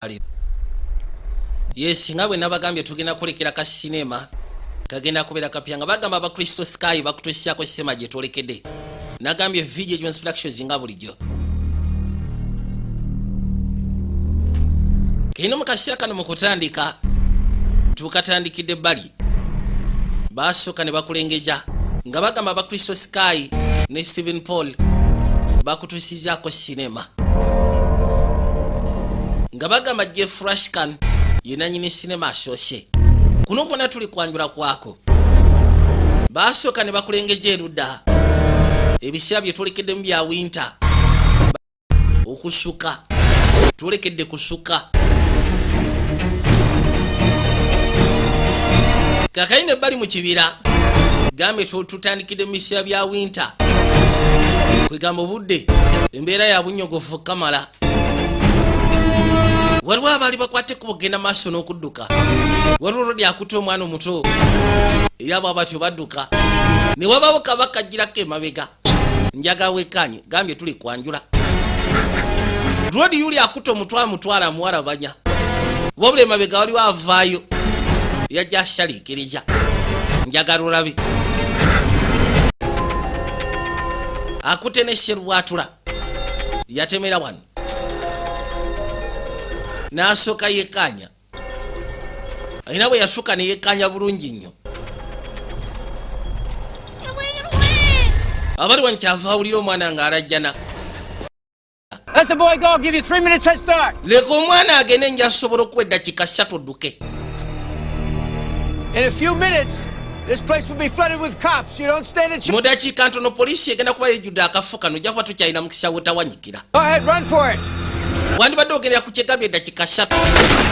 ali yes nga bwe nabagambye tugenda kulekera ka sinema kagenda kubeera kapya nga bagamba abakristo sky bakutusiako sema gye twolekede nagambye video jones productions nga bulijjo kino mu kaseera kano mu kutandika tukatandikidde bali baasooka ne bakulengeza nga bagamba bakristo sky ne stephen paul bakutusizaako sinema nga bagamba jeff rashkan yenanyini sinema asoose kuno kwona tuli kwanjula kwako baasooka ne bakulengeja erudda ebiseera byetwolekeddemu bya winter okusuka twolekedde kusuka kakayina ebbali mu kibira gambye tutandikidde mu biseera bya winta kwegamba obudde embeera ya bunyogofu kamala waliwo abaali bakwate ku bugenda maaso n'okudduka waliwo olwo lyakuta omwana omuto era abo abatyo badduka ne wabawo kabakajjirako emabega njaga wekanye gambye tuli kwanjula rodi yuli akuta omutwe amutwala muwala banya wabula emabega waliwo avaayo yajja ashaliikiriza njagala olabe akute ne sherwatula yatemera wano n'asooka yekaanya era bwe yasuka ne yekkaanya bulungi nnyo abali wano kyava awulira omwana ng'alajjana leka omwana agende nja sobola okuwa eddakiika ssatu dduke mu dakiika ntono poliisi egenda kuba yejjudde akafo kano ojja kuba tukyalina mukisa wotawanyikira wandibadde ogendera ku kyegambye eddakiika ssatu